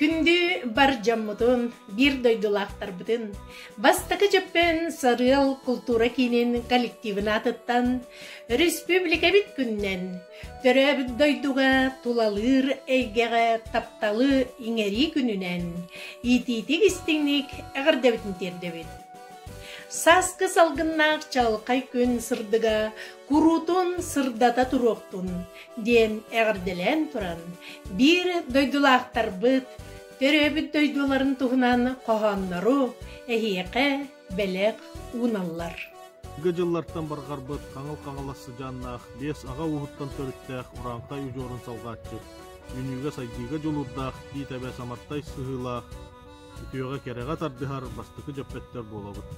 Күндү бар дьоммутун, биир дойдулаахтарбытын, бастакы Дьөппөн Сарыал култуура киинин коллективын аатыттан Өрөспүүбүлүкэбит күнүнэн Төрөөбүт дойдуга тулалыыр эйгэҕэ тапталы иҥэрии күнүнэн иитиитик-истиҥник эҕэрдэбитин тиэрдэбит. Сааскы салгыннаах чаҕылхай күн сырдыга куруутун сырдата туруохтун диэн эҕэрдэлээн туран биир дойдулаахтарбыт төрөөбүт дойдуларын туһунан хоһооннору эһиэхэ бэлэх ууналлар. Гэ дьыллартан барҕарбыт Хаҥыл Хаҥалас сыдьааннаах, биэс аҕа ууһуттан төрүттээх Урааҥхай удьуорун салҕааччы, үүнүүгэ-сайдыыга дьулуурдаах, биитэбэ самартай сыһыылаах, үтүөҕэ кэрэҕэ тардыһар бастакы дьөппөттөр буолабыт.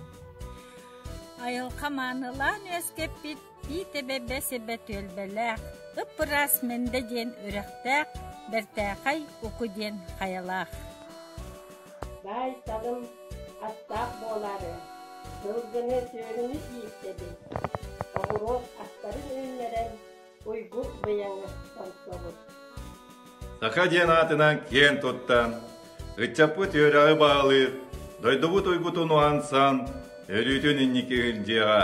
Айылҕа маанылаан үөскэппит Тиит эбэбэ сибэ түөлбэлээх, Ыппыраас Мэндэ диэн үрэхтээх, Бэртээхэй Уку диэн хайалаах Баайталым аттаах буолаары, сылгыны сүөһүнү ииртэбин, оҕуруот астарын үүннэрэн, уйгу быйаҥы томтобут. Саха диэн аатынан киэн туттан, ыччаппыт үөрэҕи баалыыр, дойдубут уйгутун уһансан, өрүүтүн инники дьиэҕэ.